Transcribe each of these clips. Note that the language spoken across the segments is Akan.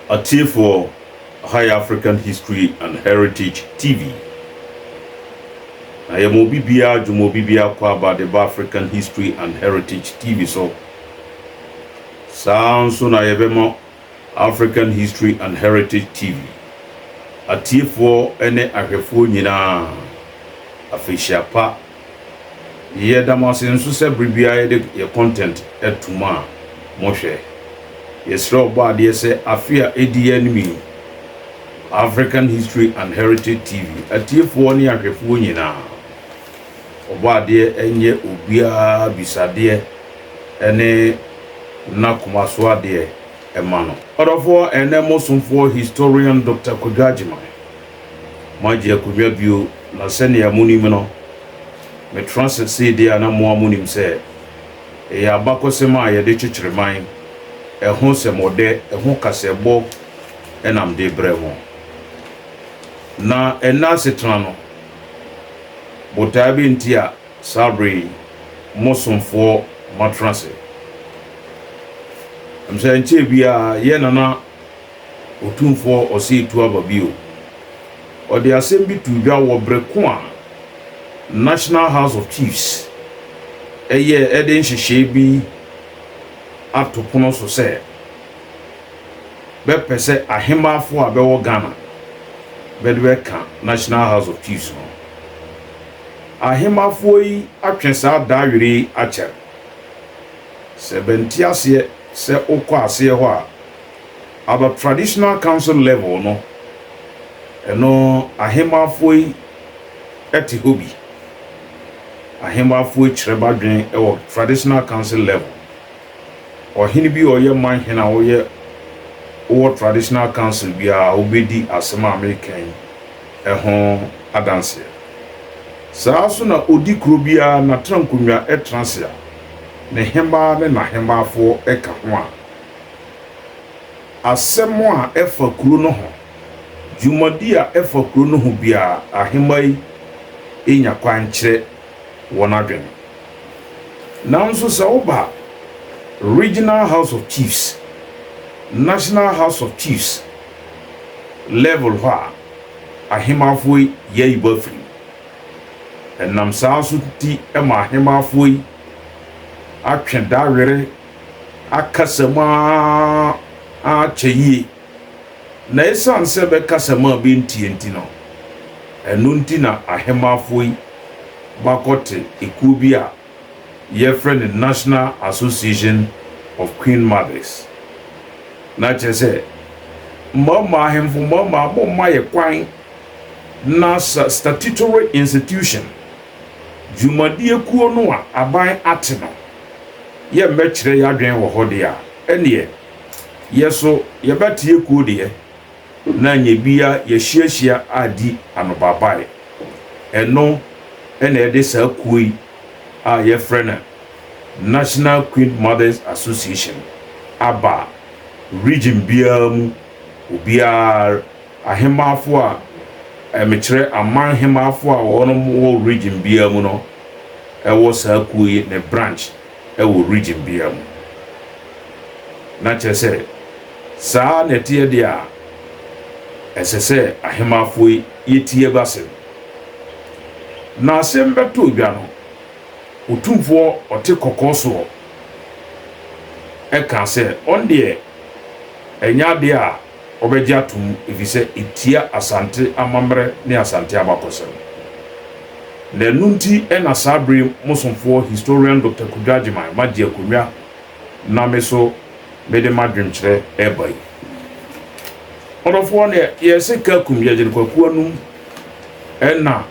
Atiefoɔ, Ɛha yɛ African History and Heritage TV. Na yɛma obi biara, dwuma obi biara kɔ aba de ba African History and Heritage TV so. Saa ara nso na yɛbɛma African History and Heritage TV atiefoɔ ne ahwɛfoɔ nyinaa afehyia pa. Yɛda mo ase nso sɛ bere biara yɛde yɛn content to mo a mohwɛ. Yɛsrɛ Ɔbɔadeɛ sɛ afe a edi yɛn anim yi, African History and Heritage TV atiefoɔ ne ahwɛfoɔ nyinaa, Ɔbɔadeɛ nyɛ obiara bisadeɛ ne n'akomasoadeɛ mma no. Ɔdɔfoɔ ɛne mo somfoɔ Historian Doctor Kwadwo Agyeman. moagye akonnwa bio, na sɛnea munim no, metra ase sei de a na mo ara munim sɛ ɛyɛ abakɔsɛm a yɛde kyekyere man, ɛho nsɛmɔdɛ, ɛho kasɛɛbɔ na mede brɛ mo. Na ɛnnɛ asetena no, botae bɛn nti a saa bere yi mo somfoɔ matena ase? Ɛmsɛ ɛnkyɛɛ biara yɛn nana Otumfoɔ ɔsetu aba bio. Ɔde asɛm bi too dwa wɔ bere ko a National House of Chiefs yɛɛ de nhyehyɛe bi ato pono so sɛ bɛpɛ sɛ ahemmaafo a bɛwɔ Ghana bɛde bɛka National House of Chiefs no. Ahemmafoɔ yi atwe saa da were yi akyɛre. Sɛ bɛnte aseɛ sɛ wokɔ aseɛ hɔ a, At the traditional council level no, ɛno ahemmafoɔ yi te hɔ bi. Ahemmafoɔ yi kyerɛ badwene wɔ traditional council level. Ɔhene bi a ɔyɛ manhene a ɔyɛ wɔ traditional council biara ɔbɛdi asɛm a mereka yi ho adanseɛ. Saa nso na ɔdi kuro biara n'atenankonnwa tena ase a ne hemmaa ne n'ahemmafoɔ ka ho a Asɛm a ɛfa kuro no ho, Dwumadi a ɛfa kuro no ho biara, ahemmaa yi nya kwan kyerɛ wɔn adwene. Nanso sɛ woba Regional House of Chiefs, National House of Chiefs level hɔ a, ahemmaafoɔ yi yɛayi bɔ afiri mu. Ɛnam saa nso nti ma ahemmaafoɔ yi atwe da were. akasa mu ara akyɛ yie, na ɛsiane sɛ bɛkasa mu a bɛntie nti no, ɛno nti na Ahemafo yi bakɔte ekuo bi a yɛfrɛ no National Association of Queen Mothers. Na kyerɛ sɛ, mmarima ahemfo mmarima momma yɛ kwan na sa statutory institution, dwumadie kuo no a aban ate no, yɛmmɛkyerɛ y'adwen wɔ hɔ deɛ a, ɛnneɛ yɛ so yɛbɛteɛ kuo deɛ, na nyɛ bia yɛahyiahyia adi anobaabaeɛ. Ɛno na ɛde saa kuo yi a yɛfrɛ no National Queen Mothers Association aba a region biara mu obiara Ahemafo a, mekyerɛ, aman hemafo a wɔnom wɔ region biara mu no wɔ saa kuo yi ne branch wɔ region biara mu. Na kyerɛ sɛ, saa na ɛteɛ deɛ a, ɛsɛ sɛ ahemafo yi yɛtie b'asem. Na asem bɛtoo dwa no, Otumfoɔ ɔte kɔkɔɔ soɔ kaa sɛ, ɔno deɛ ɛnyɛ adeɛ a, wɔbɛgye ato mu efisɛ etia Asante amammerɛ ne Asante abakɔsɛm. Na ɛno nti na saa bere yi mo somfoɔ Historian Doctor Kwadwo Agyeman magye akonnwa na me so mede m'adwenkyerɛ reba yi. Ɔdɔfoɔ na yɛse Kakum Yɛgyene Kwaku Anum ɛna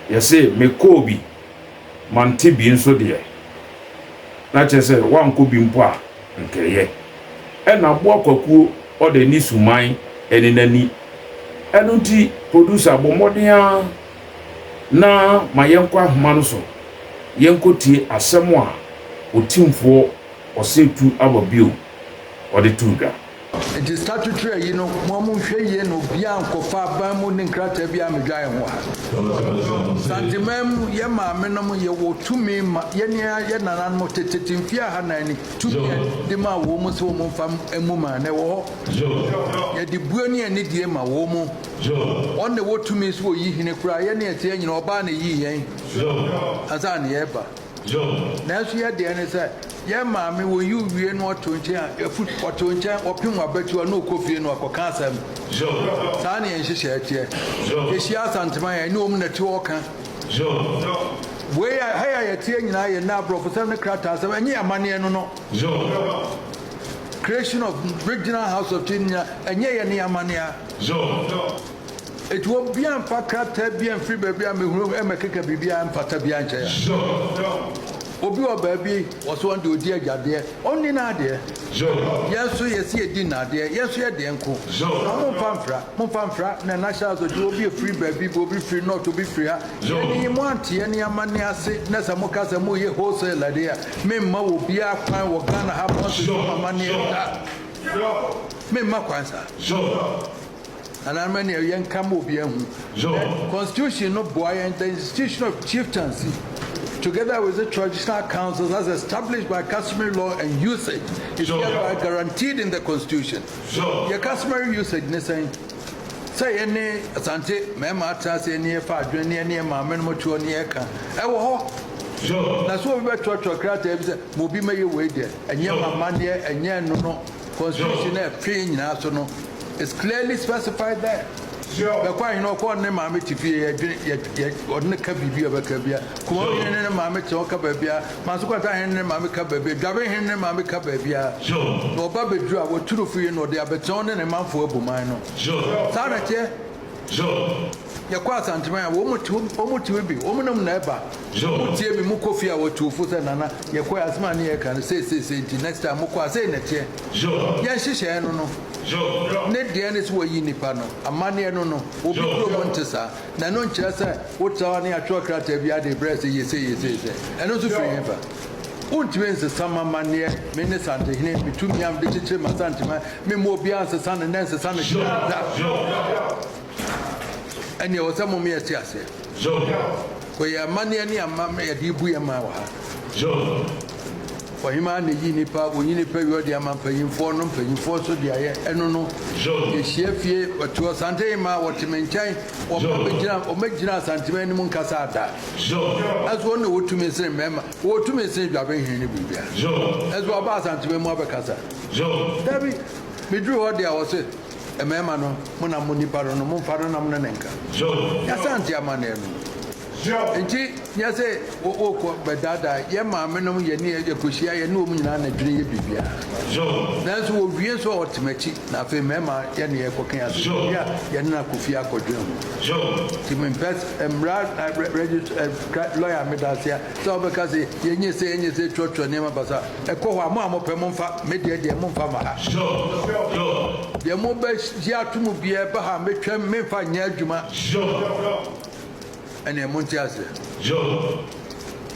yɛse Mekoobi. Mante bi nso deɛ, na kyerɛ sɛ woankɔ bi mpo a, anka ɛyɛ. Ɛna aboa kwakuo ɔdɛ ne suman ɛne n'ani. Ɛno nti producer bɔ mmɔden ara na ma yɛnkɔ ahoma no so yɛnkɔtie asɛm a Otimfoɔ Ɔsɛtu Aba Bio ɔde too dwa. Enti statutory ayi no moa mo nhwɛ yie na obiaa nkɔfa aban mu ne nkrataa biaa mmedwae ho a. Santeman mu yɛ maame nom yɛ wɔ tumi ma yɛne yɛ nananom tetete mfie aha nan ni tumi a de maa wɔ mo sɛ wɔ mo mfa mmu maa no ɛwɔ hɔ yɛ de bue ne ani die ma wɔ mo wɔn na wɔ tumi sɛ wɔ yi hene koraa yɛne yɛ teɛ nyina ɔbaa na yii yɛn ansa na yɛ ba. Yoh. Nanso yɛ deɛ ne sɛ, yɛn maame wɔyi wo wie na ɔte wo nkyɛn a, ɛfu ɔte wo nkyɛn, ɔpem w'abatiwa na ɔkɔ fie na ɔkɔka asɛm. Yoh. Saa na yɛn nhyehyɛɛ teɛ. Yoh. Yɛhyia asantem a, yɛne wɔn na ti ɔɔka. Yoh. Wei a, ha yi a yɛteɛ nyinaa yɛ nnɛ aborɔfosɛm ne krataasɛm, ɛnyɛ amanneɛ no no. Yoh. Creation of Regional House of Tea no nyinaa, ɛnyɛ yɛn ne yɛn amanneɛ a. Yoh. Enti wɔn biara mfa krataa biara mfiri baabi a mehunu mmɛkeka biribiara mpata biara nkyɛ yɛn. Obi wɔ baabi, ɔse ɔno deɛ ɔdi agya deɛ, ɔnni n'adeɛ. Yɛn nso yɛse yɛdi nna adeɛ, yɛn nso yɛ deɛ nko. Na momfa mfra, momfa mfra, na National House ɔde obi firi baabi, obi firi North, obi firi ha. Yɛn yi moante yɛn ne amanneɛ ase na sɛ moka sɛ moreyɛ wholesale deɛ a, memma wɔ biara kwan wɔ Ghana ha, moansusu mo amanneɛ da. Memma kwan saa. Nananom ani awia nka ma obiara hu dɛ Constitution no boa yɛn The institution of chieftaincy, together with its traditional councils as established by customary law and usage, is hereby guaranteed in the Constitution. Yɛ customary usage ne sɛn? Sɛ yɛne Asante mmarima atena ase ne yɛfa adwene ne yɛne yɛn maamenom te hɔ ne yɛka. Ɛwɔ hɔ. Na sɛ obi bɛtwerɛtwerɛ krataa bi sɛ ma obi mmɛyɛ wei deɛ, ɛnyɛ m'amanneɛ, ɛnyɛ ɛno no Constitution a ɛfe nyinaa so no. It's clearly specified there. Sure. Bɛkɔ ahene ɔkɔ ne maame te fie yɛ dwene yɛ yɛ ɔde ne ka biribi a bɛka bia. Kuma Sure. hene ne maame te ɔka baabi a. Manso kwata hene ne maame ka baabi a. Dwabe hene ne maame ka baabi a. Sure. Na ɔba bɛduru a wɔturu fie na ɔde abɛtena ɔne ne manfoɔ abu man no. Sure. Saa na ɛteɛ. Sure. Yɛkɔ Asanteman a wɔn te wɔn te bi wɔn nam na ɛba. Sure. Wɔn tie mi mo kɔ fie a wɔtu fo sɛ nana yɛkɔ yɛ asɛm a ne yɛka no sei sei sei nti next time mo kɔ a sei na ɛteɛ. Yɛ nhyehyɛɛ no no ne deɛ ne sɛ wɔyi nipa no amaneɛ no no obi kurom nte saa na ɛno nkyerɛ sɛ wotra hɔ ne atwerɛ krataa bi ade brɛ sɛ yese yese sɛ ɛno nso firi he ba wontumi nsesa ma amaneɛ me ne santehene metumi a mede kyekyere ma santema memmɔ obiara nsesa no nɛ nsesa no kyerɛ da ɛne ɛwɔ sɛ mom yɛ te aseɛ Job. Wei yɛ amanneɛ ne ama me yɛde rebu yɛn man wɔ ha. Job. Ɔhemaa na eyi nipa, wɔyi nipa wi ɔde ama mpanyinfoɔ no, mpanyinfoɔ nso de ayɛ ɛno no. Job. Yɛhyia fie, wɔte ɔsante hemaa, wɔte me nkyɛn, wɔba bɛgyina, wɔmɛgyina asantema anim nkasa ada. Job. Ɛso wɔn na wɔwɔ tumi sene mmarima, wɔwɔ tumi sene dwabɛnhene ne biribiara. Job. Ɛso wɔaba asantema mu abɛkasa. Job. Dabi, meduru hɔ deɛ wɔse. Mmarima no, monam mo nipa no no, momfa no nam no ne nka. Yɛasante amanneɛ no. Enti nyɛ sɛ wokɔ bɛdaadaa yɛn maamenom, yɛne yɛkɔhyia, yɛne wɔn nyinaa na dwene yɛ biribiara. Nanso wɔwie so a wɔte m'akyi, na afei mmarima yɛne yɛkɔka yɛn asɛm bi a yɛne no akɔ fie akɔdwene ho. Nti mempɛ, mmara registrar, lɔya a meda ase a. Sɛ wɔbɛka se, Yɛnyɛ sei, yɛnyɛ sei, trɔtrɔ nneɛma ba so a, ɛkɔ hɔ a, mo a mopɛ momfa, me deɛ deɛ, momfa mma ha. Deɛ mobɛgye ato mu biara ɛba ha a, mɛtwam, memfa nyɛ adwuma. Ɛnneɛ monte aseɛ.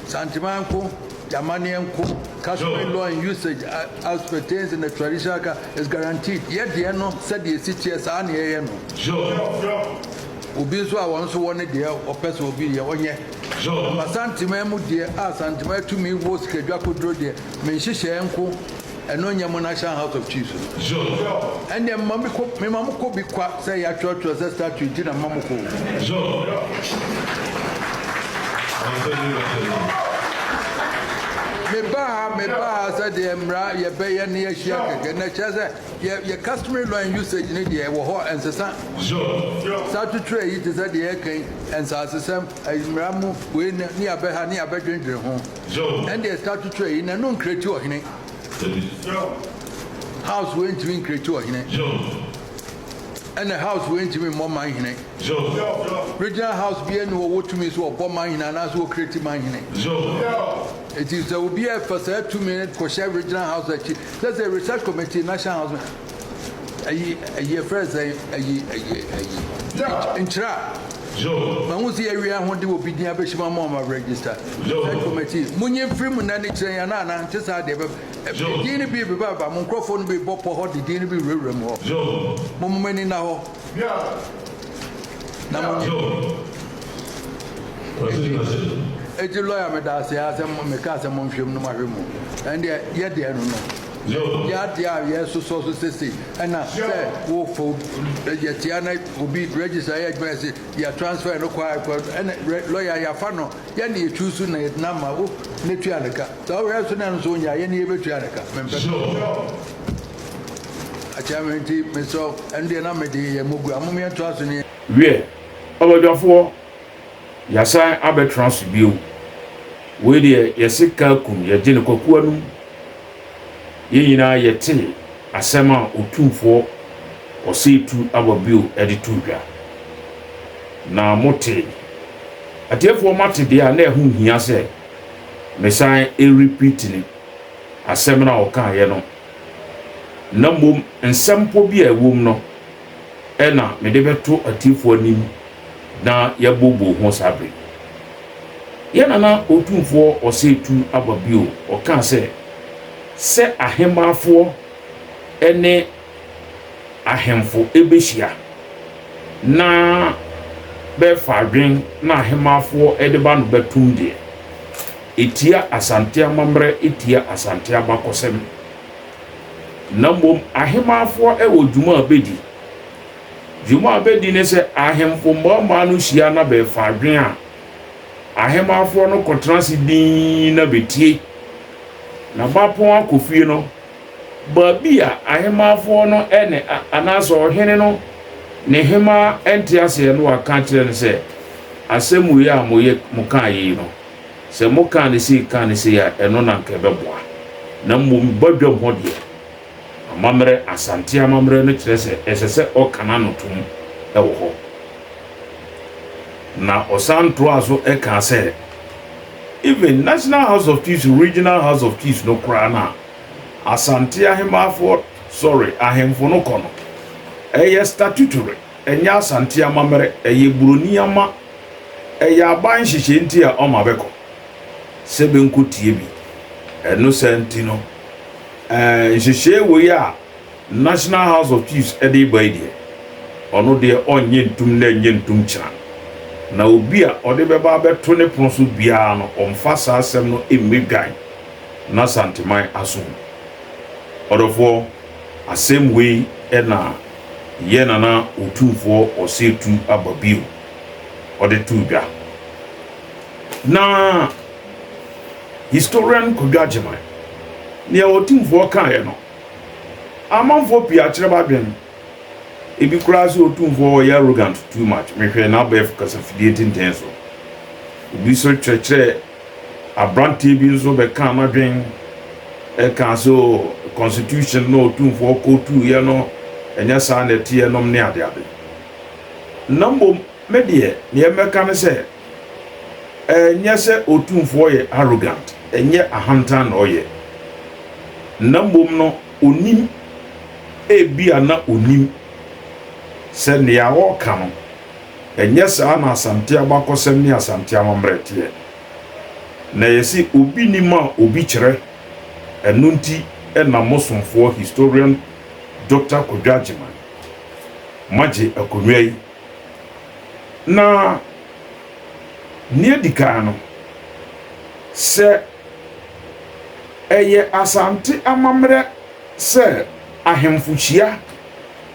Santemaa nko, yɛn amanneɛ nko, customary law and usage as pertains in the traditional ka is guaranteed. Yɛ deɛ no sɛdeɛ ɛsi teɛ, saa ara na yɛyɛ no. Obi nso a wɔn nso wɔ ne deɛ wɔpɛ sɛ obi yɛ, ɔnyɛ. Job. Ma Santemaa mu deɛ a Santemaa tumi wɔ sikadwa koduro deɛ me nhyehyɛɛ nko ɛno nyɛ mo national house of chiefs no. Job. Ɛndeɛ mema me kɔ mema mo kɔ bi kwa sɛ ya twerɛ twerɛ sɛ statue nti na mema mo kɔ o. Job. Me ba ha me ba ha sɛdeɛ mmra yɛ bɛyɛ ne yɛ hyia kɛkɛ na ɛkyerɛ sɛ Yɛ yɛ customary law and usage ne deɛ ɛwɔ hɔ ɛnsesa. Saa tutuɛ yi te sɛ deɛ yɛka yi, nsaasesɛm, ɛyi mmara mu wei ne ne yɛabɛha ne yɛabɛdwendwene ho. Ɛndeɛ saa tutuɛ yi n'ano nkreati ɔhene. House wei ntumi nkreati ɔhene. Ɛna house wei ntumi mmɔ manhene. Regional house biara nni hɔ ɔwɔ tumi sɛ ɔbɔ manhene anaasɛ ɔkreati manhene. Enti sɛ obiara fa saa tumi no kɔhyɛ regional house akyi Sɛ sɛ research committee national housing ayi ayi ɛfrɛ sɛn ayi ayi ayi stage nkyerɛ a ma hu sɛ yɛawie a ho de obi din abɛhyɛ mu ama ɔma register research committee mo nyi mfiri mu na ne kyerɛ yɛn ana nte saa deɛ ɛbɛ din no bi bebabeba mo nkurɔfoɔ no bi bɔ pɔ hɔ de din no bi wurawura mu hɔ mo mo ani nna hɔ. Eti lawyer me da ase a sɛ me ka sɛ mo nhwɛ mu no mo ahwɛ mu ɛndeɛ yɛ deɛ no no yɛ adeɛ a yɛ sosɔ so sese ɛna sɛ wo fo yɛ tia na obi register yɛ adwuma yɛ se yɛ transfer no kɔ a kɔ ɛna lawyer yɛ afa no yɛ ne yɛ tu so na yɛ dena ma wo ne tua ne ka sɛ wohwɛ so na ɛno so nyɛ a yɛ ne yɛ bɛ tua ne ka mempɛ Akyɛr ntsi mesɔ ɛno deɛ na mede yɛ mogu a mom yɛntoa so ne. Wiɛ, ɔbadwafoɔ, yɛasan abɛtena ase bio. Wei deɛ yɛse Kaakum yɛgye no kwaku anom. Yɛn nyinaa yɛte asɛm a Otumfoɔ Ɔsɛetu aba bio de too dwa. Na mote? Atiefoɔ moate deɛ a na ɛho nhia sɛ mesan repeat no, asɛm no a ɔkaeɛ no. na mmom nsɛmpɔ bi a ɛwom no na mede bɛto atiefo anim na yɛabooboo ho saa bere yi. Yɛn nana otumfoɔ Ɔsɛetu aba bio, ɔkaa sɛ, sɛ ahemmaafoɔ ne ahemfo bɛhyia na bɛfa adwene na ahemmaafoɔ de ba no bɛtom deɛ, Etia Asante amammerɛ etia Asante abakɔsɛm, na mmom ahemanfoɔ wɔ dwuma a bɛdi. Dwuma a bɛdi ne sɛ ahemfo mmaamaa no hyia na bɛfa adwene a ahemanfoɔ no kɔtena ase dinn na bɛtie. Na bapɔn akɔ fie no, baabi a ahemanfoɔ no ne anaasɛ ɔhene no ne hemaa nte aseɛ no waka akyerɛ no sɛ, Asɛm wei a moyɛ mokaa yei no, Sɛ mokaa no sei kaa no sei a, ɛno na anka ɛbɛboa. Na mmom badwam hɔ deɛ, amammerɛ, Asante amammerɛ no kyerɛ sɛ ɛsɛ sɛ ɔka n'ano tom wɔ hɔ. Na ɔsan toaa so kaa sɛ, Even National House of Chiefs, Regional House of Chiefs no koraa no a Asante Ahemaafoɔ, sorry, Ahemfo no kɔ no, ɛyɛ statutory. Ɛnyɛ Asante amammerɛ, ɛyɛ buroni ama. Ɛyɛ aban nhyehyɛe nti a ɔma bɛkɔ sɛ bɛnkɔtie bi. Ɛno saa nti no, ɛɛ nhyehyɛe wei a National House of Chiefs de reba yi deɛ, ɔno deɛ ɔnyɛ ntum nnɛ nyɛ ntum kyena. Na obi a ɔde bɛba abɛto ne pono so biara no, ɔmfa saa asɛm no mmɛdwan n'Asanteman asom. Ɔdɔfoɔ, asɛm wei na. Yɛ na na Otumfoɔ ɔsɛ tu aba bio ɔde too dwa. Na historian Kwadwo Agyeman, nea Otumfoɔ kaeɛ no, amanfoɔ pii akyerɛ badwen. Ebi koraa sɛ Otumfoɔ ɔyɛ arrogant too much, mehwɛɛ n'abɛɛfo kasafidie tenten so. Obi nso kyerɛkyerɛɛ Aberanteɛ bi nso bɛkaa m'adwene kaa sɛ oh, constitution no a Otumfoɔ kootuuiɛ no, ɛnyɛ saa na ɛteɛ nom ne adeade. Na mmom me deɛ, deɛ mɛka ne sɛ, ɛnyɛ sɛ Otumfoɔ yɛ arrogant, ɛnyɛ ahantan na ɔyɛ, na mmom no ɔnim, ebia na ɔnim sɛ nea ɔreka no, Ɛnyɛ saa na Asante abakɔsɛm ne Asante amammerɛ teɛ. Na ɛyɛ se obi nim a obi kyerɛ, ɛno nti na mo somfoɔ Historian Doctor Kwadwo Agyeman magye akonnwa yi. Na nea adi kan no, sɛ ɛyɛ Asante amammerɛ sɛ ahemfo hyia,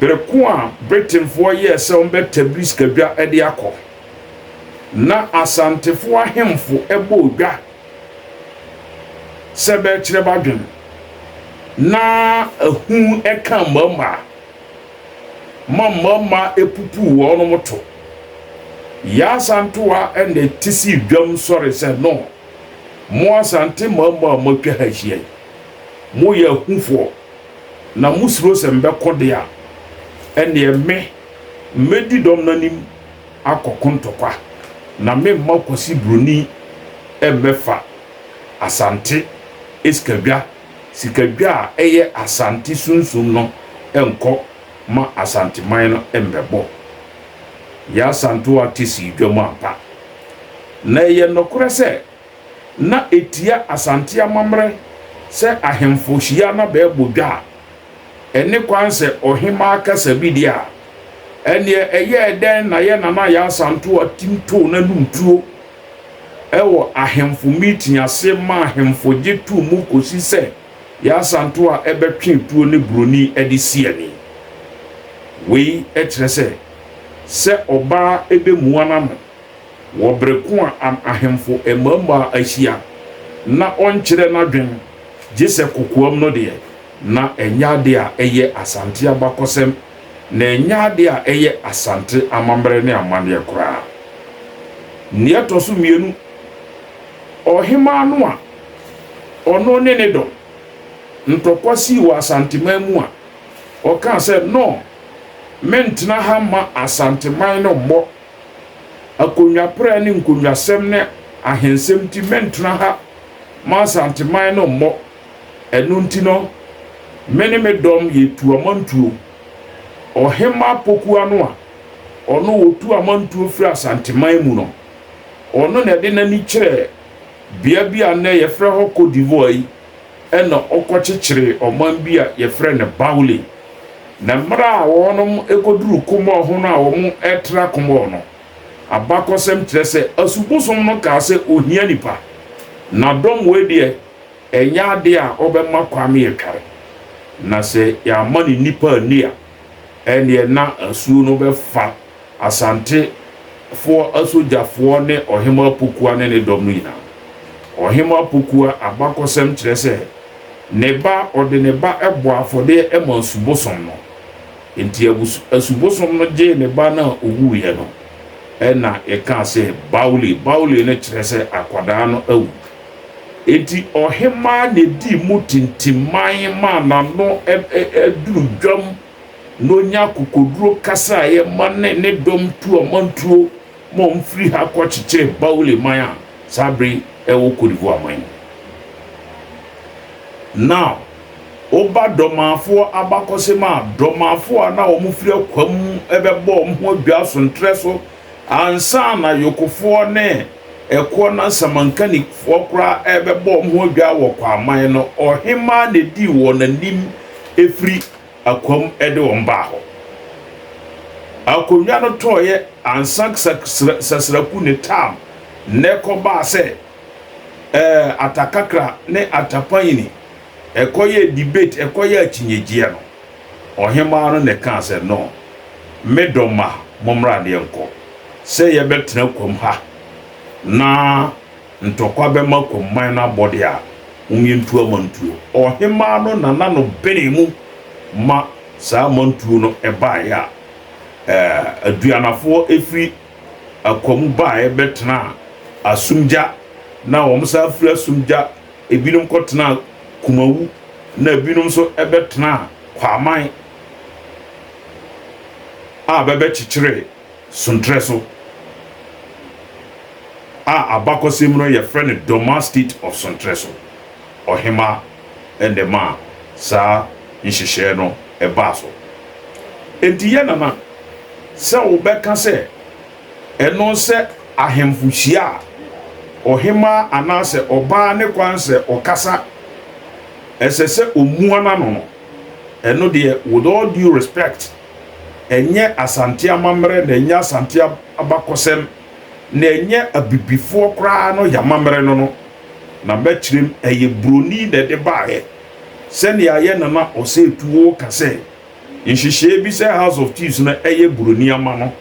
Bere ko a Britainfoɔ yɛɛ sɛ wɔbɛtabiri sikadwa de akɔ, na Asantefoɔ ahemfo bɔɔ dwa sɛ bɛrekyerɛ b'adwene, na ahu kaa mmarimaa ma mmarimaa pupuu wɔnom to. Yaa Asantewa na ti sii dwam sɔre sɛ, No, mo Asante mmarimaa a moatwa ha ahyia yi, moyɛ ahufoɔ. Na mosuro sɛ mebɛko de a, ɛnneɛ me, mɛdi dɔm no anim akɔko ntɔkwa, na meremma Kwasi Buroni mmɛfa Asante esikadwa, sikadwa a ɛyɛ Asante sunsum no nkɔ ma Asanteman no mmɛbɔ Yaa Santoa Tessy dwam ampa. Na ɛyɛ nokorɛ sɛ, na etia Asante amammerɛ sɛ ahemfo hyia na bɛbɔ dwa a, ɛne kwan sɛ ɔhemmaa kasa bi deɛ a, ɛnneɛ ɛyɛɛ dɛn na yɛn Nana Yaa Asantewaa tim too n'anom tuo wɔ ahemfo meeting ase ma ahemfo gye too mu kɔsi sɛ Yaa Asantewaa bɛtwe tuo ne buroni de si ani. Wei kyerɛ sɛ, sɛ ɔbaa bɛmua n'ano. Wɔ bere ko a am ahemfo mmarimaa ahyia na ɔnkyerɛ n'adwene gye sɛ kokoam no deɛ, na ɛnyɛ ade a ɛyɛ Asante abakɔsɛm, na ɛnyɛ ade a ɛyɛ Asante amammerɛ ne amanneɛ koraa. Nea ɛtɔ so mmienu, ɔhemmaa no a ɔno ne ne dɔm ntɔkwa sii wɔ Asanteman mu a ɔkaa sɛ, No, mentena ha mma Asanteman no mmɔ Akonnwa prɛ ne nkonnwasɛm ne ahensɛm nti mentena ha ma Asanteman no mmɔ. Ɛno nti no, me ne me dɔm yɛtu amantuo. Ɔhemmaa Pokuah no a ɔno ɔtu amantuo firi Asanteman mu no, ɔno na ɛde n'ani kyerɛɛ bea bi a nnɛ yɛfrɛ hɔ Cote d'Ivoire yi. Ɛnna ɔkɔkyekyeree ɔman bi a wɔfrɛ no Baule. Na mmerɛ a wɔnom kɔduruu kumɔɔ ho no a wɔtra kumɔɔ no, abakɔsɛm kyerɛ sɛ asubosom no kaa sɛ ɔhia nnipa, na dɔm wei deɛ ɛnyɛ adeɛ a ɔbɛma kwan ma yɛtware, na sɛ yɛamma no nnipa anni a, ɛnneɛ na asuo no bɛfa. Asantefoɔ asogyafoɔ ne ɔhemmaa Pokua ne ne dɔm no nyinaa. Ɔhemmaa Pokua abakɔsɛm kyerɛ sɛ ne ba a ɔde ne ba bɔɔ afɔdeɛ maa Asubosom no, enti Asubosom no gyee ne ba no a ɔwuiɛ no, ɛnna ɛkaa sɛ Baule. Baule no kyerɛ sɛ akwadaa no awu. Enti ɔhemmaa na ɛdii mu tintim man maa n'ano duru dwam. na ɔnya akokoduro kasa a ɛyɛ ma ne ne dɔm tu ɔmantuo ma wɔfiri ha kɔ kyekyɛ Baule man a saa bere yi ɛwɔ Côte d'Ivoire man mu. Na woba Dɔmafoɔ abakɔsem a, Dɔmafoɔ a na wɔfiri akoa mu bɛbɔ wɔn ho adwaa sonterɛ so ansa na Yokofoɔ ne ɛkoɔ na Samankanikfoɔ koraa rebɛbɔ wɔn ho adwaa wɔ Kwaa man no, ɔhemaa na ɛdii wɔn anim firi akoam de wɔn baa hɔ. Akonnwa no tɔeɛ ansa Sasraku ne Tam nnɛ kɔbaa sɛ ɛɛ Atakakra ne Atapanyini ɛkɔyɛɛ debate ɛkɔyɛɛ akyinnyegyeɛ no, ɔhemaa no na ɛkaa sɛ, No, me dɔ mma, mommra ne yɛnkɔ sɛ yɛbɛtena akoam ha na Ntɔkwa bɛma Komman no abɔde a wɔyɛ ntuo amantuo. Ɔhemaa no nana no benee mu ma saa amantuo no baeɛ a Aduanafoɔ firi Akwa mu baeɛ bɛtenaa Asumgya na wɔn san firi Asumgya ebinom kɔtenaa Kumawu na ebinom nso bɛtenaa Kwaman a bɛbɛkyekyeree Sonterɛ so, a abakɔsɛm mu no yɛfrɛ no Dormaa State of Sonterɛ so, ɔhemaa na ɛmaa saa nhyehyɛɛ no baa so. Enti yɛ nana, sɛ wobɛka sɛ ɛno sɛ ahemfo hyia a, ɔhemaa anaasɛ ɔbaa ne kwan sɛ ɔkasa, ɛsɛ sɛ ɔmua n'ano no, ɛno deɛ with all due respect, ɛnyɛ Asante amammerɛ na ɛnyɛ Asante abakɔsɛm na ɛnyɛ abibifoɔ koraa no yɛ amammerɛ no no na mɛkyerɛ mu, ɛyɛ buroni na ɛde baeɛ sɛnea yɛn Nana Osei Tuo ka sɛ nhyehyɛeɛ bi sɛ House of Chiefs no yɛ buroni ama no.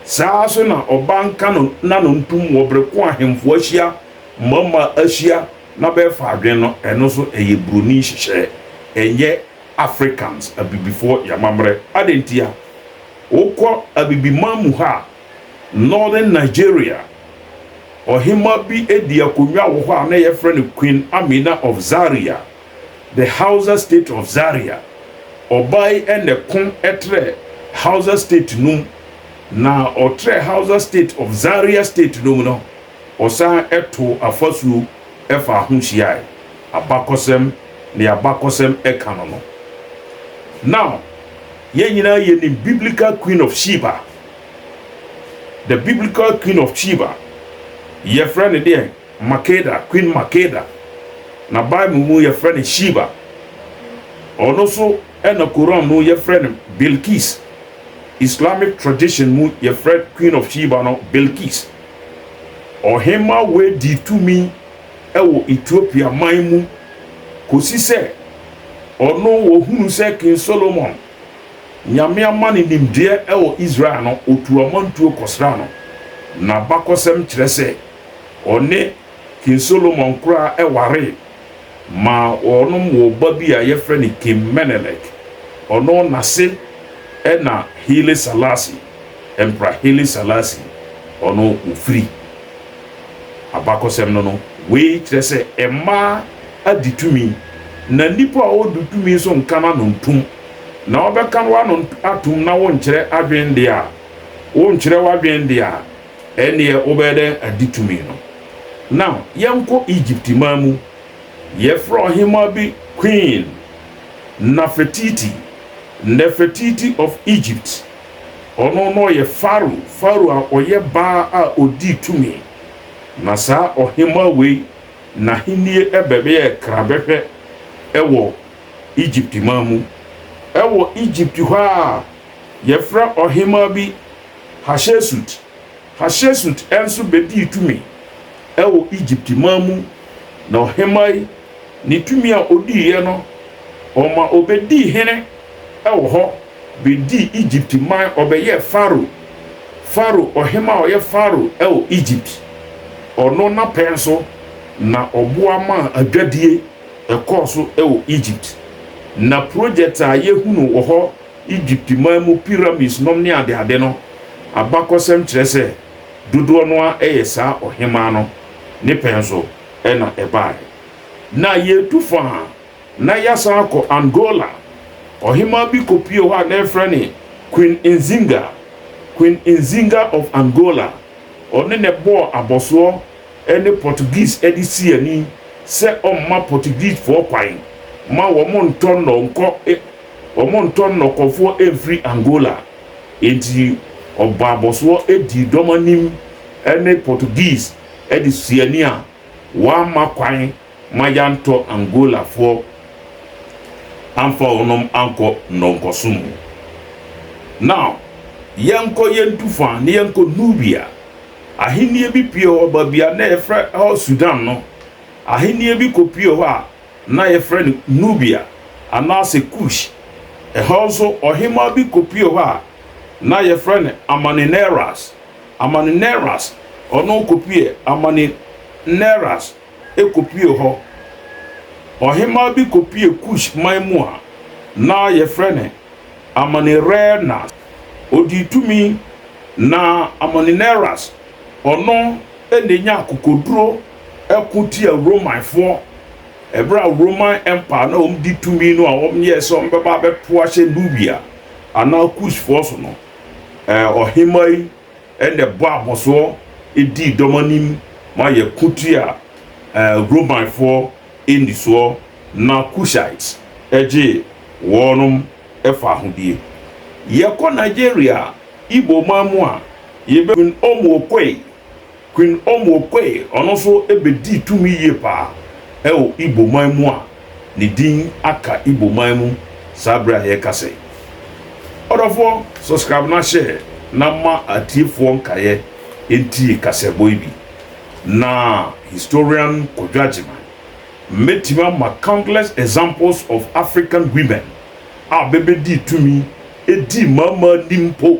Saa ara nso na ɔbaa nka no na no ntom wɔ bere ko ahemfo ahyia, mmammaa ahyia na bɛrefa adwene no, ɛno nso ɛyɛ buroni nhyehyɛeɛ ɛnyɛ Africans, Abibifoɔ, y'amammerɛ. Adɛn ntia? Wokɔ Abibiman mu ha, Northern Nigeria, ɔhemmaa bi dii akonnwa wɔ hɔ a na yɛfrɛ no Queen Amina of Zaria, the Hausa state of Zaria. Ɔbaa yi na ɛko trɛɛ Hausa state no mu, na ɔtrɛɛ Hausa state of Zaria state no mu no, Wɔsan too afasuo faa ho hyiae, abakɔsɛm, nea abakɔsɛm ka no no. Now, yɛn nyinaa yɛnim Biblical Queen of Sheba. The Biblical Queen of Sheba, yɛfrɛ no deɛn? Makeda, Queen Makeda. Na Bible mu yɛfrɛ no Sheba. Ɔno nso na Koran mu yɛfrɛ no Bilqis. Islamic tradition mu yɛfrɛ Queen of Sheba no Bilqis. Ɔhemma Wei dii tumi wɔ Ethiopia man mu kɔsi sɛ ɔno wɔhunuu sɛ King Solomon, Nyame ama no nimdeɛ wɔ Israel no, ɔtuu amantuo kɔsraa no. N'abakɔsɛm kyerɛ sɛ ɔne King Solomon koraa waree ma wɔnom woo ba bi a yɛfrɛ no King Menelik. Ɔno n'ase na Haile Selassie. Emperor Haile Selassie ɔno ofiri. Abakɔsɛm no no, wei kyerɛ sɛ mmaa adi tumi na nipa a ɔdu tumi nso nka n'ano ntom na ɔbɛka no ano atom na wonkyerɛ adwene deɛ a wonkyerɛ w'adwene deɛ a ɛnneɛ wobɛyɛ dɛn adi tumi no. Now yɛnkɔ Egypt man mu, yɛfrɛ ɔhemaa bi Queen Nafertiti, Nefertiti of Egypt. Ɔno na ɔyɛ Farao, Farao a ɔyɛ baa a ɔdii tumi. Na saa ɔhemmaa wei, n'ahennie bɛyɛɛ krabɛhwɛ wɔ Egypt man mu. Wɔ Egypt hɔ ara, wɔfrɛ ɔhemmaa bi Hahyesut. Hahyesut nso bɛdii tumi wɔ Egypt man mu. Na ɔhemmaa yi, ne tumi a ɔdiiɛ no, ɔma ɔbɛdii hene wɔ hɔ. bedii Egypt man, ɔbɛyɛɛ Farao, Farao ɔhemmaa a ɔyɛ Farao wɔ Egypt. Ɔno n'apɛn so na ɔboa maa adwadie ɛkɔɔ so wɔ Egypt. Na project a yɛhunu wɔ hɔ, Egypt man mu pyramids nom ne adeade no, abakɔsɛm kyerɛ sɛ dodoɔ no ara yɛ saa ɔhemmaa no ne pɛn so na ɛbaeɛ. Na yɛretu faa. Na yɛasan akɔ Angola. Ɔhemaa bi kɔpuee hɔ a na wɔfrɛ no Queen Nzinga, Queen Nzinga of Angola. Ɔne na ɛbɔɔ abɔsoɔ ne Portuguese de sii ani sɛ ɔmma Portuguesefoɔ kwan ma wɔntɔ nnɔ nkɔ wɔntɔ nnɔkɔfoɔ mfiri Angola. Enti ɔbɔɔ abɔsoɔ dii dɔm anim ne Portuguese de sii ani a wɔamma kwan. ma yɛantɔ Angolafoɔ amfa wɔnom ankɔ nnɔnkɔso mu. Now, yɛnkɔ yɛntu fa na yɛnkɔ Nubia, ahennie bi pue hɔ, baabi a na yɛfrɛ hɔ Sudan no, ahennie bi kɔpue hɔ a na yɛfrɛ no Nubia anaasɛ Kush. Ɛhɔ nso ɔhemaa bi kɔpue hɔ a na yɛfrɛ no Amanineras, Amanineras, ɔno kɔpuee Amanineras. kɔpuee hɔ. Ɔhemmaa bi kɔpuee Kus man mu a na wɔfrɛ no Amonirenas. Ɔdii tumi, na Amonirenas, ɔno na ɔnyaa akokoduro ko tiaa Romanfoɔ berɛ a Roman Empire no a wɔdi tumi no a wɔyɛɛ sɛ wɔbɛba abɛto ahyɛ Nubia anaa Kusfoɔ so no. Ɔhemmaa yi Ɛnna bɔ abɔsoɔ dii dɔm anim ma yɛko tiaa Romanfoɔ nnisoɔ na Cushites gyee wɔnom faahodie. Yɛkɔ Nigeria Igbo man mu a, yɛbɛhunu wɔn wɔ Kwei. Queen Omokwei, ɔno nso bɛdii tumi yie paa wɔ Igbo man mu a ne din aka Igbo man mu saa berɛ a yɛrekasa yi. Ɔdɔfoɔ, subscribe na share na ma atiefoɔ nkaeɛ ntie kaseɛbɔ yi bi. Na Historian Kwadwo Agyeman, mɛtumi ama countless examples of African women a bɛbɛdii tumi dii mmaamaa nim mpo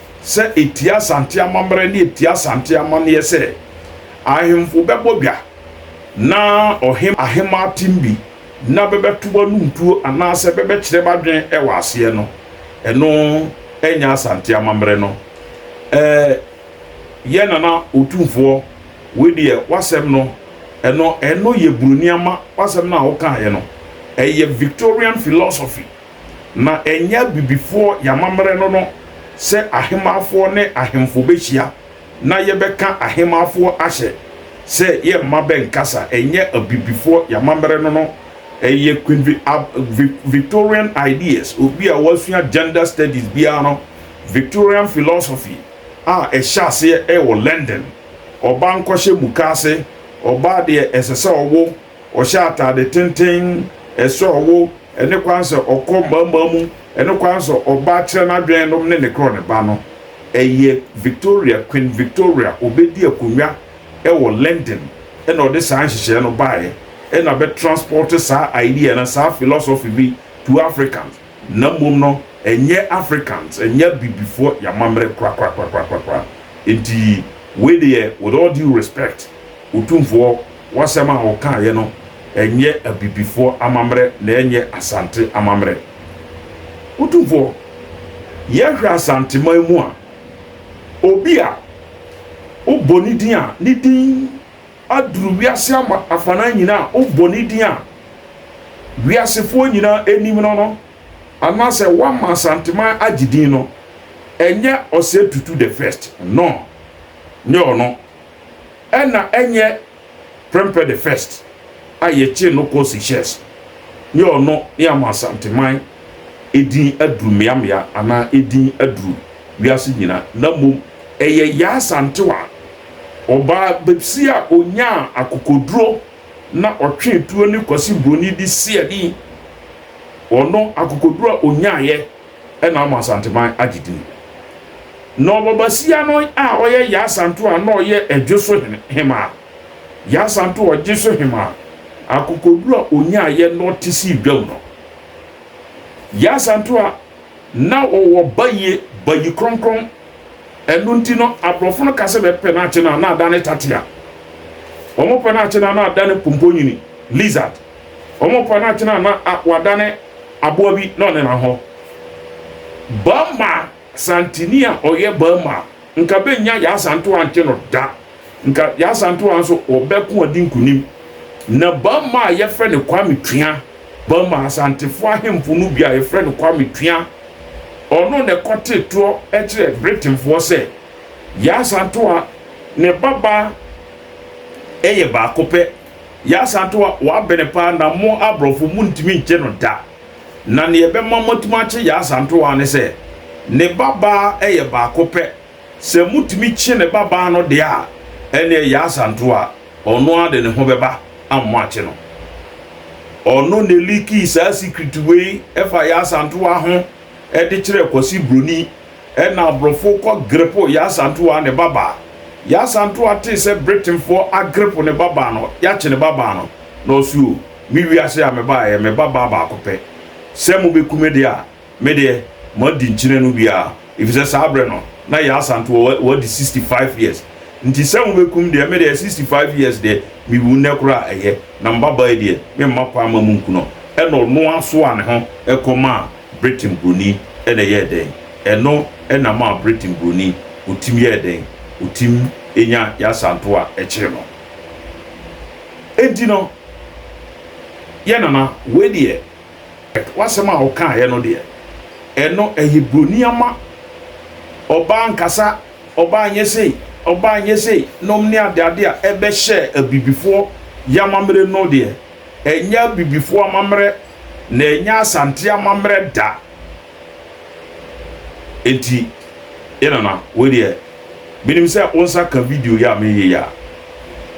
sɛ etia Asante amammerɛ ne etia Asante amanneɛ sɛ ahemfo bɛbɔ dwa na ɔhemmaa ahemmaa tem bi na bɛbɛto anom tuo anaasɛ bɛbɛkyerɛ b'adwene wɔ aseɛ no, ɛno nyɛ Asante amammerɛ no. Eh, yɛn Nana Otumfoɔ, wei deɛ w'asɛm no, ɛno, ɛno yɛ Buroni ama, w'asɛm no a wokaeɛ no, ɛyɛ Victorian philosophy. Na ɛnyɛ abibifoɔ y'amammerɛ no no sɛ ahemaafoɔ ne ahemfo bɛhyia na yɛbɛka ahemaafoɔ ahyɛ sɛ yɛ mma bɛnkasa, ɛnyɛ abibifoɔ y'amammerɛ no no, ɛyɛ Queen Vi ab vi Victorian ideas, obi a wasua gender studies biara no, Victorian philosophy a ɛhyɛ aseɛ wɔ London, ɔbaa nkɔhyɛ mukaase, ɔbaa deɛ ɛsɛ sɛ ɔwo. Ɔhyɛ atade tenten, ɛsɛ ɔwo, ɛne kwan sɛ ɔkɔ mmaammaa mu, ɛne kwan sɛ ɔbaa kyerɛ n'adwene nom ne ne korɔ ne ba no. Ɛyɛ Victoria, Queen Victoria, ɔbɛdi akonnwa wɔ London na ɔde saa nhyehyɛɛ no baeɛ na bɛ transport saa idea no, saa philosophy bi to Africans. Na mmom no, ɛnyɛ Africans, ɛnyɛ Abibifoɔ yɛn amammerɛ korakorakorakorakora. Enti, wei deɛ, with all due respect, Otumfoɔ, w'asɛm a wokaeɛ no, ɛnyɛ Abibifoɔ amammerɛ na ɛnyɛ Asante amammerɛ. Otumfoɔ, yɛhwɛ Asanteman mu a, obi a wobɔ ne din a, ne din. aduru wiase ama afanan nyina a wobɔ ne din a wiasefoɔ nyina nim no no anaasɛ woama Asanteman agye din no, ɛnyɛ Ɔsɛ Tutu the First, no, nyɛ ɔno. Ɛna ɛnyɛ Prempeh the First a yɛkyee no kɔɔ Seychelles, nyɛ ɔno ne ama Asanteman edin aduru mmeammea anaa edin aduru wiase nyina, na mmom ɛyɛ Yaa Asantewaa Ɔbaa bɛbsi a ɔnyaa akokoduro na ɔtwee tuo ne Kwasi Broni de si ani. Ɔno akokoduro a ɔnyaaeɛ na ama Asanteman agye din. Na ɔbabasia no a ɔyɛ Yaa Santo a na ɔyɛ Adwoso hemaa. Yaa Santo Ɔgyeso hemaa, akokoduro a ɔnyaaeɛ na ɔte sii dwam no. Yaa Santo a na ɔwɔ bayie, bayi kronkron. Ɛno nti no, aborɔfo no ka sɛ bɛpɛ no akye no a na adane tatia. Wɔpɛ no akye no a na adane pomponyini, lizard. Wɔpɛ no akye no a na wadane aboa bi na ɔnena hɔ. Burma santini a ɔyɛ Burma nka bɛnnya Yaa Santoa nkye no da. Nka yɛn Asantewaa nso ɔbɛko adi nkunim. Na bamma a yɛfrɛ no Kwame Twea, bamma Asantefoɔ ahemfo no bi a yɛfrɛ no Kwame Twea, ɔno na ɛkɔtee toɔ kyerɛɛ Britainfoɔ sɛ yɛn Asantewaa ne babaa yɛ baako pɛ. Yɛn Asantewaa wabene paa na mo aborɔfo montumi nkye no da. Na nea ɛbɛma moatumi akye yɛn Asantewaa ne sɛ ne babaa yɛ baako pɛ. Sɛ motumi kye ne babaa no deɛ a, ɛnneɛ Yasanto a ɔno ara de ne ho bɛba ama moakye no. Ɔno na ɛliikii saa secret wei fa Yasantoa ho de kyerɛɛ Kwasi Broni, ɛnna aborɔfo kɔ grepo Yasantoa ne babaa. Yasantoa tee sɛ Britainfoɔ agrepo ne babaa no, yɛakye ne babaa no, na ɔse o, me wiase a mebaeɛ, me babaa baako pɛ. Sɛ mobɛku me deɛ a, Me deɛ, madi nkyene no bi ara, ɛfiri sɛ saa berɛ no, na Yaa Asantewɔ wa, wadi sixty five years. Nti sɛ mobɛkum deɛ, me deɛ, sixty five years deɛ, mewu nnɛ koraa a, ɛyɛ. Na me babaa yi deɛ, memma kwan mma monku no. Ɛnna ɔno ara soaa ne ho kɔmaa Britain buroni, ɛnna ɛyɛɛ dɛn? Ɛno na maa Britain buroni, ɔtim yɛɛ dɛn? Ɔtim nya Yaa Asantewɔ a ɛkyere no. Enti no, yɛn nana, wei deɛ. W'asɛm a wokaeɛ no deɛ, ɛno ɛyɛ buroni ama. Ɔbaa nkasa, ɔbaa nyɛ sei, ɔbaa nyɛ sei nom ne adeade a ɛbɛhyɛɛ Abibifoɔ y'amammerɛ no deɛ, ɛnyɛ Abibifoɔ amammerɛ na ɛnyɛ Asante amammerɛ da. Enti, yɛn nana, wei deɛ, menim sɛ wo nsa ka video yi a mereyɛ yi a,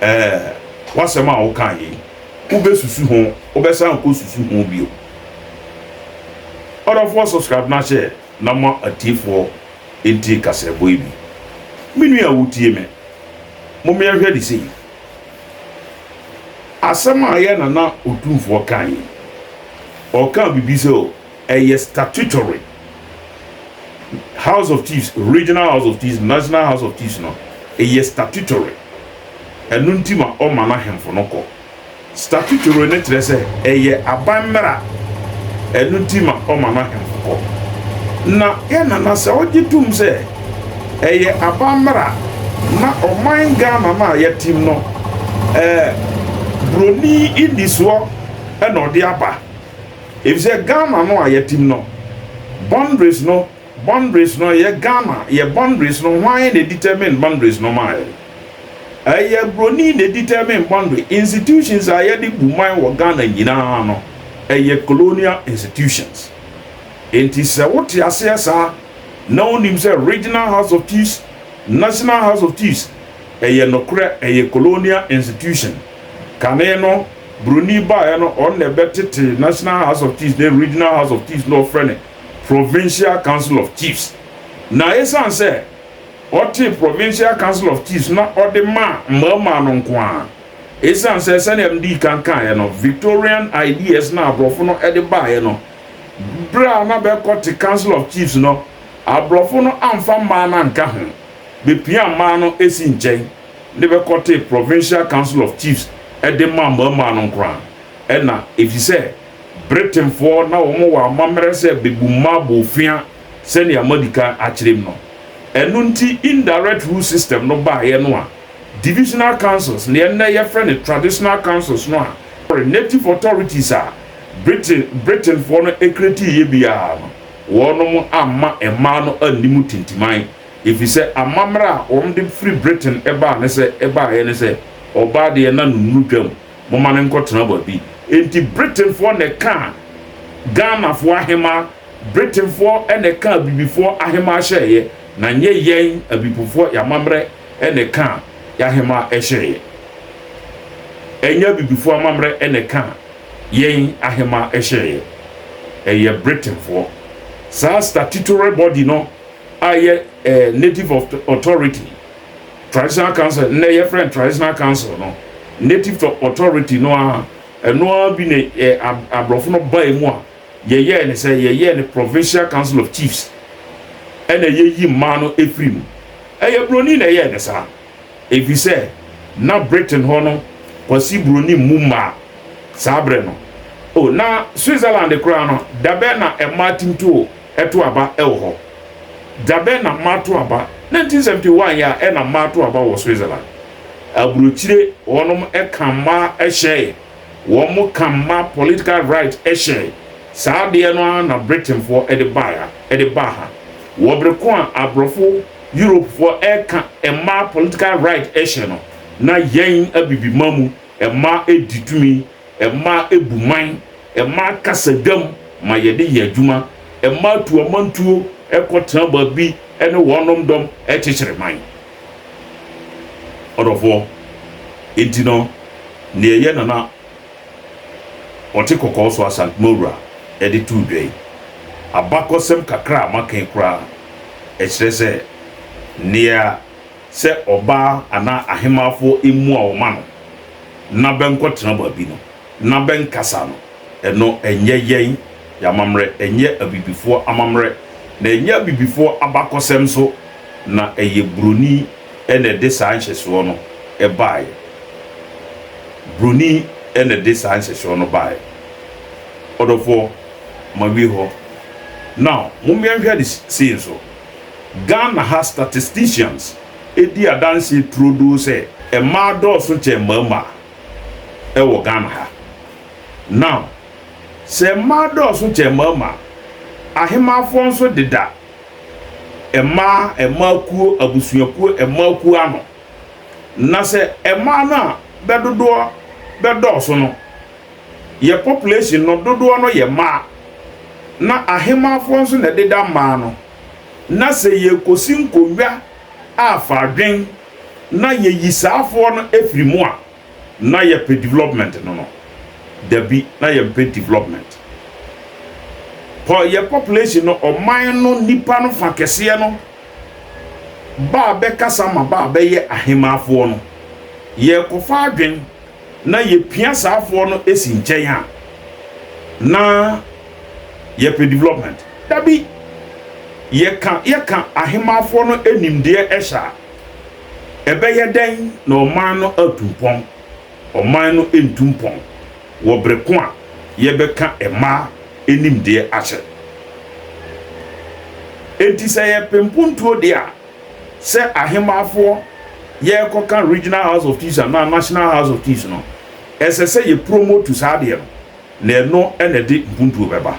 ɛɛ, w'asɛm a wokae yi, wobɛsusu ho, wobɛsan akɔsusu ho bio. Ɔdɔfoɔ subscribe no ahyɛ na ma atiefoɔ ntie kasaɛbɔ yi bi. Me nua a wotie me, mom yɛnhwɛ de sei. Asɛm a yɛn nana Otumfoɔ kae yi, ɔkaa biribi sɛ Ɛyɛ statutory House of Chiefs, Regional House of Chiefs, National House of Chiefs no, ɛyɛ statutory. Ɛno nti ma ɔma n'ahemfo no kɔ. Statutory no kyerɛ sɛ ɛyɛ aban mmara. Ɛno nti ma ɔma n'ahemfo kɔ. Na yɛn nana sɛ ɔgye tom sɛ ɛyɛ aban mmara na ɔman Ghana no a yɛtem no ɛɛ buroni nnisoɔ na ɔde aba. Efisɛ Ghana no a yɛtim no boundaries no boundaries no yɛ Ghana yɛ boundaries no hwan na determine boundaries no maa yɛn? Ɛyɛ broni na determine boundary institutions a yɛde bu man wɔ Ghana nyinaa no ɛyɛ colonial institutions enti sɛ wote aseɛ saa na wonim sɛ regional house of chiefs national house of chiefs ɛyɛ nokorɛ ɛyɛ colonial institution kane no Broni baeɛ no ɔno na ɛbɛtete National House of Chiefs ne Regional House of Chiefs na wɔfrɛ no Provincial Council of Chiefs. Na ɛsiane sɛ ɔtee Provincial Council of Chiefs na ɔde maa mmarimaa no nko ara. Ɛsiane sɛ sɛdeɛ medii kan kaeɛ no Victorian ideas na aborɔfo no de baeɛ no berɛ a na bɛrekɔte Council of Chiefs no aborɔfo no amfa mmaa no anka ho, bɛpiaa mmaa no sii nkyɛn. de bɛkɔtee Provincial Council of Chiefs de maa mmarimaa no nkoraa na efisɛ Britainfoɔ na wɔn wɔ amammerɛ sɛ bebu mmaa bofea sɛnea madi kan akyerɛ mu no. Ɛno nti indirect rule system no baeɛ no a Divisional Councils, nea nnɛ yɛfrɛ no Traditional Councils no a sorry, Native Authorities a Britain Britainfoɔ no createeɛ biara no, wɔnom amma mmaa no anni mu tintiman. Efisɛ amammerɛ a wɔde firi Britain baa ne sɛ ɛbaeɛ ne sɛ, Ɔbaa deɛ na no nnuru dwam, momma no nkɔtena baabi. Enti Britainfoɔ na ɛkaa Ghanafoɔ ahemaa, Britainfoɔ na ɛkaa Abibifoɔ ahemaa hyɛeɛ, na nyɛ yɛn Abibifoɔ yɛn amammerɛ na ɛkaa yɛn ahemaa hyɛeɛ. Ɛnyɛ Abibifoɔ amammerɛ na ɛkaa yɛn ahemaa hyɛeɛ, ɛyɛ Britainfoɔ. Saa statutory body no a yɛ eh, Native of Authority Traditional Council, nnɛ yɛfrɛ no Traditional Council no, Native of Authority no ara, ɛno ara bi ne eh, aborɔfo no bae mu a yɛyɛɛ ne sɛ, yɛyɛɛ ne Provincial Council of Chiefs, ɛna yɛyi mmaa no ɛfiri mu. Ɛyɛ Buroni na ɛyɛɛ ne saa, ɛfiri sɛ na Britain hɔ no Kwasi Buroni mmu mmaa saa berɛ no. O, na Switzerland koraa no, dabɛ na mmaa tim too. To aba wɔ hɔ. Da bɛn na mma to aba? 1971 yɛ a na mma to aba wɔ Switzerland. Aburokyire hɔnom ka mma hyɛe. Wɔn ka mma political right hyɛe. Saa adeɛ no ara na Britainfoɔ de baeɛ a ɛde baa ha. Wɔ bere ko a aborɔfo, Europefoɔ, reka mma political right hyɛ no, na yɛn Abibiman mu mma di tumi. Mmaa bu man, mmaa kasa dwam ma yɛde yɛ adwuma, mmaa tu amantuo kɔ tena baabi ne wɔnom dɔm kyekyere man. Ɔdɔfoɔ, enti no nea ɛyɛ Nana Ɔtekɔkɔɔ so Asantmawura de too dwa yi, abakɔsɛm kakra a maka yi koraa, ɛkyerɛ sɛ nea. sɛ ɔbaa anaa ahemaafoɔ mmua wɔn ano na bɛnkɔtena baabi no, na bɛnkasa no, ɛno ɛnyɛ yɛn yɛn amammerɛ, ɛnyɛ abibifoɔ amammerɛ, na ɛnyɛ abibifoɔ abakɔsɛm nso, na ɛyɛ Buroni na ɛde saa nhyɛsoɔ no baeɛ. Buroni na ɛde saa nhyɛsoɔ no baeɛ. Ɔdɔfoɔ, mawie hɔ. Now, mommeɛnhwɛ ade sei nso. Ghana ha statisticians di adanseɛ turodoo sɛ mmaa dɔɔso kyɛn mmarimaa wɔ Ghana ha. Now, sɛ mmaa dɔɔso kyɛn mmarimaa, ahemaafoɔ nso deda mmaa, mmaa kuo, abusuakuo, mmaa kuo ano. Na sɛ mmaa no a bɛdodoɔ bɛdɔɔso no, Yɛ population no dodoɔ no yɛ maa na ahemaafoɔ nso na ɛdeda mmaa no na sɛ yɛrekɔsi nkonnwa a fa adwen na yɛyi saafoɔ no firi mu a na yɛpɛ development no no dabi na yɛmpɛ development pɔ yɛ population no ɔman no nnipa no fa kɛseɛ no baa bɛkasa ma baa bɛyɛ ahemaafoɔ no yɛrekɔfa adwen na yɛpia saafoɔ no si nkyɛn a, na yɛpɛ development. Dabi, yɛka yɛka ahemaafoɔ no nimdeɛ hyɛ a, ɛbɛyɛ dɛn na ɔman no atu mpɔn? Ɔman no ntu mpɔn wɔ berɛ ko a yɛbɛka mmaa nimdeɛ ahyɛ. Enti sɛ yɛpɛ mpontuo deɛ a, Sɛ ahemmafoɔ yɛrekɔka Regional House of Chiefs anaa National House of Chiefs no, ɛsɛ sɛ yɛ promote saa adeɛ no, na ɛno na ɛde mpuntuo bɛba.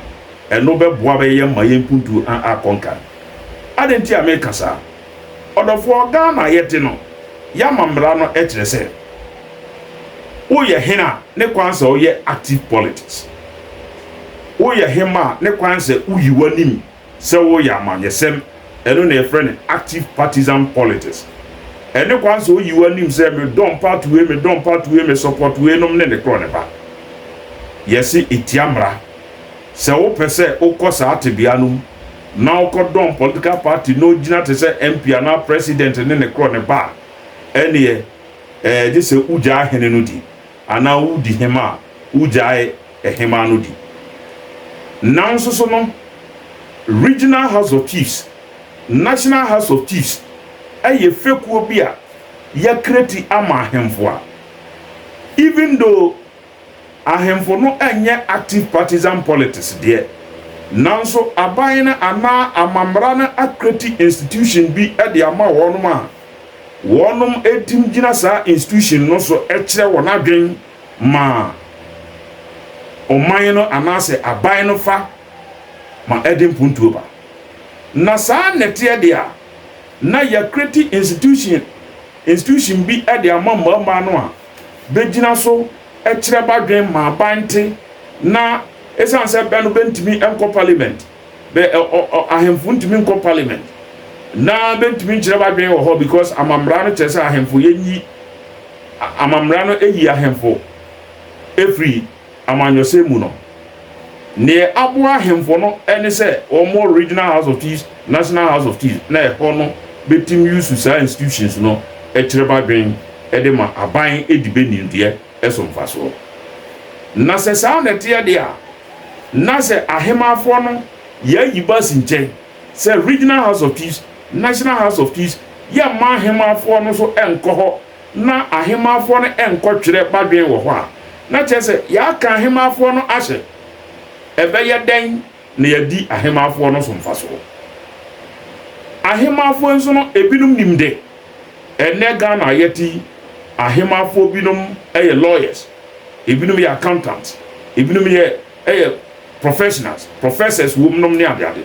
Ɛno bɛboa bɛ yɛn ma yɛn mpuntuo a akɔ nkan. Adɛn nti a meka saa? Ɔdɔfoɔ, Ghana a yɛte no, yɛama mmara no kyerɛ sɛ, woyɛ hene a, ne kwan sɛ woyɛ active politics. Woyɛ hemma a, ne kwan sɛ woyi w'anim sɛ wɔreyɛ amanyɛsɛm, ɛno na yɛfrɛ no active partisan politics. Ɛne kwan sɛ oyi w'anim sɛ me dɔm party wei, me dɔm party wei, me support wei nom ne ne korɔ ne ba. Yɛse etia mmara. Sɛ wo pɛ sɛ wo kɔ saa tebea no mu na wo kɔ dɔm political party na ogyina te sɛ MP anaa president ne ne korɔ ne ba a, ɛneɛ ɛɛ gye sɛ wo gyaa hene no di. Anaa wodi hema a, wogyae hema no di. Nanso so no, Regional House of Chiefs, National House of Chiefs yɛ fekuo bi a yɛakra ti ama ahemfo a, even though ahemfo no nyɛ active partisan politics deɛ, nanso aban no anaa amammara no akra ti institution bi de ama wɔnom a, wɔnom ɛtim gyina saa institution no so ɛkyerɛ wɔn adwen ma ɔman no anaasɛ aban no fa ma ɛde mpuntuo ba na saa nɛteɛ deɛ a na yakreti institution institution bi ɛde ama mmarimaa no a bɛgyina so ɛkyerɛ badwen ma aban te na ɛsan sɛ bɛ no bɛntimi ɛnkɔ parliament Bɛ ɛ ɔ ɔ ahemfo ntumi nkɔ parliament na bɛntumi nkyerɛ b'adwene wɔ hɔ because amammara no kyerɛ sɛ ahemfo yɛnyi amammara no ɛyi ahemfo ɛfiri amanyɔsɛm mu no. Neɛ aboa ahemfo no ɛne sɛ wɔmmɔ regional house of chiefs, national house of chiefs na ɛhɔ no bɛtim use saa institutions no ɛkyerɛ b'adwene ɛde ma aban ɛdi bɛ nimdeɛ ɛso mfasoɔ. Na sɛ saa na ɛteɛ deɛ a, na sɛ Ahemanfoɔ no yɛ ayi ba asi nkyɛn sɛ Regional House of Chiefs, National House of Chiefs, yɛmma Ahemanfoɔ no nso nkɔ hɔ na Ahemanfoɔ no nkɔtwerɛ badwen wɔ hɔ a, na kyerɛ sɛ yɛaka Ahemanfoɔ no ahyɛ. Ɛbɛyɛ dɛn na yɛadi Ahemanfoɔ no so mfasoɔ? Ahemanfoɔ nso no, ebinom nim dɛ ɛnnɛ Ghana a yɛte yi, Ahemanfoɔ binom yɛ lawyers. Ebinom yɛ accountants, ebinom yɛ ɛyɛ professionals, professors wom nom ne ade ade.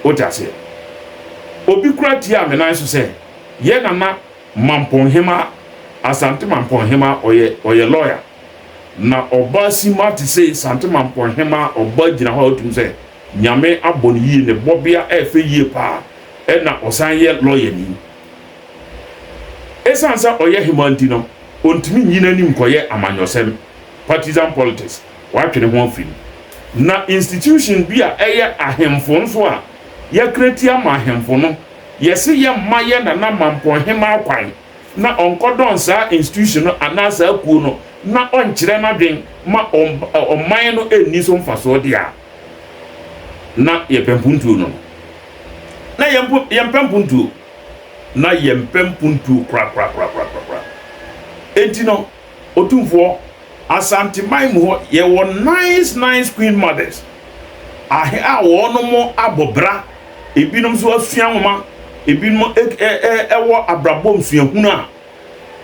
Wote aseɛ? Obi koraa tiaa me nan so sɛ, Yɛn nana Mampong Hemaa, Asante Mampong Hemaa, ɔyɛ, ɔyɛ lawyer. Na ɔba simma te sei, Asante Mampong Hemaa ɔba gyina hɔ a wote mu sɛ Nyame abɔ no yie, ne bɔbea ɛyɛ fɛ yie paa, ɛna ɔsan yɛ lɔyani. Esiane sɛ ɔyɛ hemmaa nti no, ontumi nyi n'ani nkɔyɛ amanyɔsɛm, partisan politics, watwe ne ho afi mu. Na institution bi a ɛyɛ ahemfo nso a yɛakra ti ama ahemfo no, yɛse yɛmma yɛn Nana Mampong Hemmaa kwan na ɔnkɔdɔn saa institution no anaa saa kuo no na ɔnkyerɛ n'adwene ma ɔman no nni so mfasoɔ deɛ a, na yɛpɛ mpuntuo no na yɛmpo yɛmpɛ mpuntuo na yɛmpɛ mpuntuo korakorakorakorakora enti no otumfoɔ asanteman mu hɔ yɛwɔ nice nice queen mothers ahe a wɔn mo abɔ bra ebinom nso asua nwoma ebinom ɛwɔ abrabɔ nsuahunu a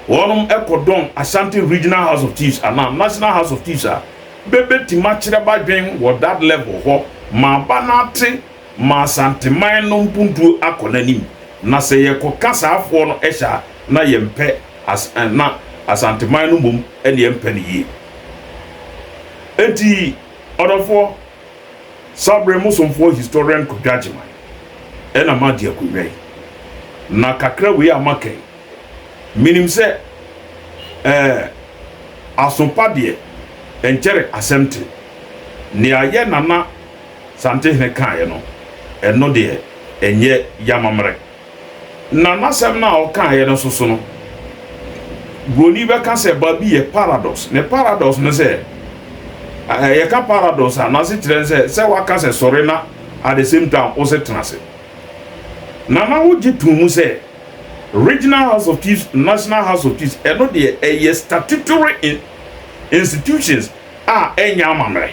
Wɔnom kɔ dɔn Asante Regional House of Chiefs anaa National House of Chiefs a, bɛ bɛ tim akyerɛ b'adwen wɔ that level hɔ ma aba no ate ma Asanteman no mpuntuo akɔ n'anim. Na sɛ yɛ kɔ ka saa foɔ no hyɛ a, na yɛ mpɛ as na Asanteman no mmom ne yɛ mpɛ no yie. Enti ɔdɔfoɔ, Sabre mo somfoɔ Historian Kwadwo Agyeman na m'agye akonwa yi. Na kakra wei a m'aka yi, Menim sɛ, ɛɛ, aso pa deɛ, ɛnkyɛre asɛm te. Nea yɛn nana Santehene kaeɛ no, ɛno deɛ, ɛnyɛ y'amammerɛ. Na n'asɛm no a ɔkaeɛ no nso so no, Buroni bɛka sɛ baabi yɛ paradox. Ne paradox ne sɛ, ɛɛ, yɛka paradox a, n'asekyerɛ ne sɛ, sɛ waka sɛ sɔre na at the same time wo se tena ase. Na na wogye too mu sɛ Regional House of Chiefs, National House of Chiefs, ɛno deɛ ɛyɛ statutory institutions a ɛnyɛ amammerɛ.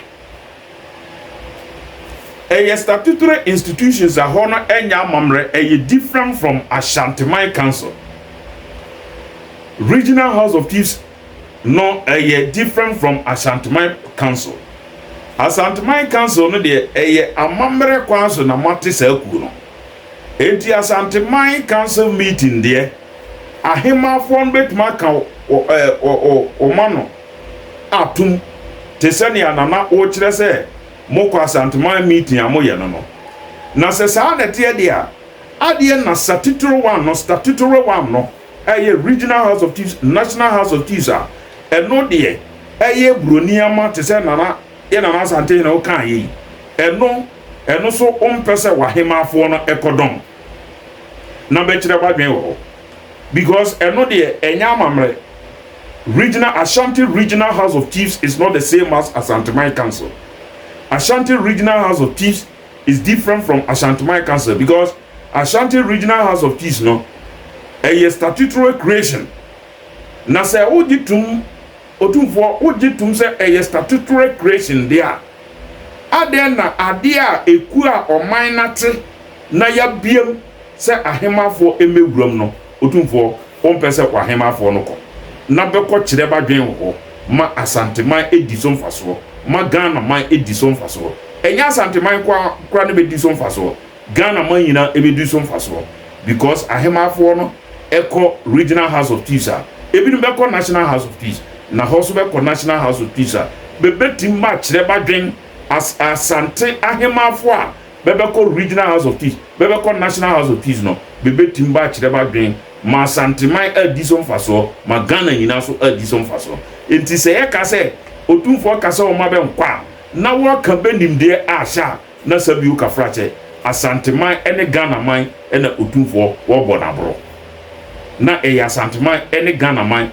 Ɛyɛ statutory institutions a hɔ no ɛnyɛ amammerɛ, ɛyɛ different from Ashanti Man Council. Regional House of Chiefs no ɛyɛ different from Asanteman council. Asanteman council no deɛ ɛyɛ amammerɛ kwan so na moate saa kuo no. Enti Asanteman council meeting deɛ Ahemanfoɔ no bɛtumi aka wɔn ano atom te sɛ nea Nana wokyerɛ sɛ mokɔ Asanteman meeting a moyɛ no no. Na sɛ saa na ɛteɛ deɛ a, adeɛ na satitoro one no, statutory one no, Ɛyɛ Regional House of Chiefs, National House of Chiefs a ɛno deɛ ɛyɛ buroni ama te sɛ Nana, yɛn Nana Asantehene wokaa yei. Ɛno, ɛno nso wompɛ sɛ w'ahemaafoɔ no kɔ dɔn na bɛkyerɛ w'adwene wɔ hɔ because ɛno deɛ ɛnyɛ amammerɛ. Regional, Ashanti Regional House of Chiefs is not the same as Asanteman Council. Ashanti Regional House of Chiefs It's different from Ashanteman Council because Ashanti Regional House of Chiefs no ɛyɛ statutory creation na sɛ wogye tom Otumfoɔ wogye tom sɛ ɛyɛ statutory creation deɛ a, adɛn na adeɛ a ɛkuo a ɔman no ate na yɛabiam sɛ Ahemanfoɔ mmɛwura mu no Otumfoɔ Wɔmpɛ sɛ kɔ ahemmafoɔ no kɔ na bɛkɔ kyerɛ badwen wɔ hɔ ma Asanteman di so mfasoɔ ma Ghana man di so mfasoɔ. Ɛnyɛ Asanteman nko ara koraa na bɛdi so mfasoɔ, Ghana man nyinaa bɛdi so mfasoɔ because ahemmafoɔ no kɔ Regional House of Chiefs a, ɛbinom bɛkɔ National House of Chiefs na hɔ nso bɛkɔ National House of Chiefs a, bɛbɛtim akyerɛ badwen as Asante ahemmafoɔ a bɛbɛkɔ Regional House of Chiefs, bɛbɛkɔ National House of Chiefs no, bebetumi bɛakyerɛ b'adwene ma Asanteman adi so mfasoɔ, ma Ghana nyinaa nso adi so mfasoɔ. Enti sɛ yɛka sɛ Otumfoɔ ka sɛ wɔmma bɛnkɔ a, na wɔreka bɛ nimdeɛ ahyɛ a na Sabio Kafrakyɛ, Asanteman ne Ghanaman na Otumfoɔ wɔrebɔ no aborɔ. Na ɛyɛ Asanteman ne Ghanaman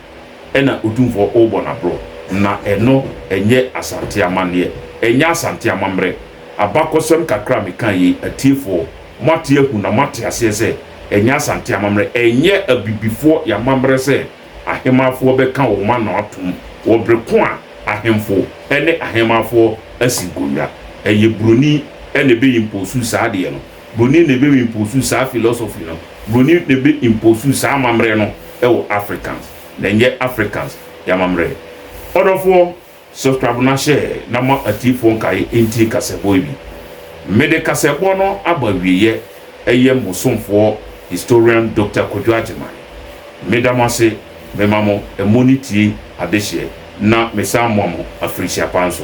na Otumfoɔ worebɔ no aborɔ, na ɛno ɛnyɛ Asante amanneɛ, ɛnyɛ Asante amammerɛ. Abakɔsɛm kakra a meka yi, atiefoɔ, moate ahu na moate aseɛ sɛ ɛnyɛ Asante amammerɛ, ɛnyɛ Abibifoɔ yɛn amammerɛ sɛ Ahemanfoɔ bɛka wɔn ano atom wɔ bere ko a Ahemfo ne Ahemanfoɔ asi nkonnwa. Ɛyɛ Buroni na ɛbɛ impose saa adeɛ no. Buroni na ɛbɛ impose saa philosophy no. Buroni na ɛbɛ impose saa amammerɛ no wɔ Africans, na ɛnyɛ Africans yɛn amammerɛ. Ɔdɔfoɔ, Subscribe na share na ma atiefo nkae ntie kasɛbɔ yi bi. Mede kasɛbɔ no aba awieɛ ɛyɛ mo somfoɔ Historian Doctor Kwadwo Agyeman. Meda mo ase, mema mo ɛmɔ ne tie adehyeɛ na mesan moa mo afirihyia pa nso.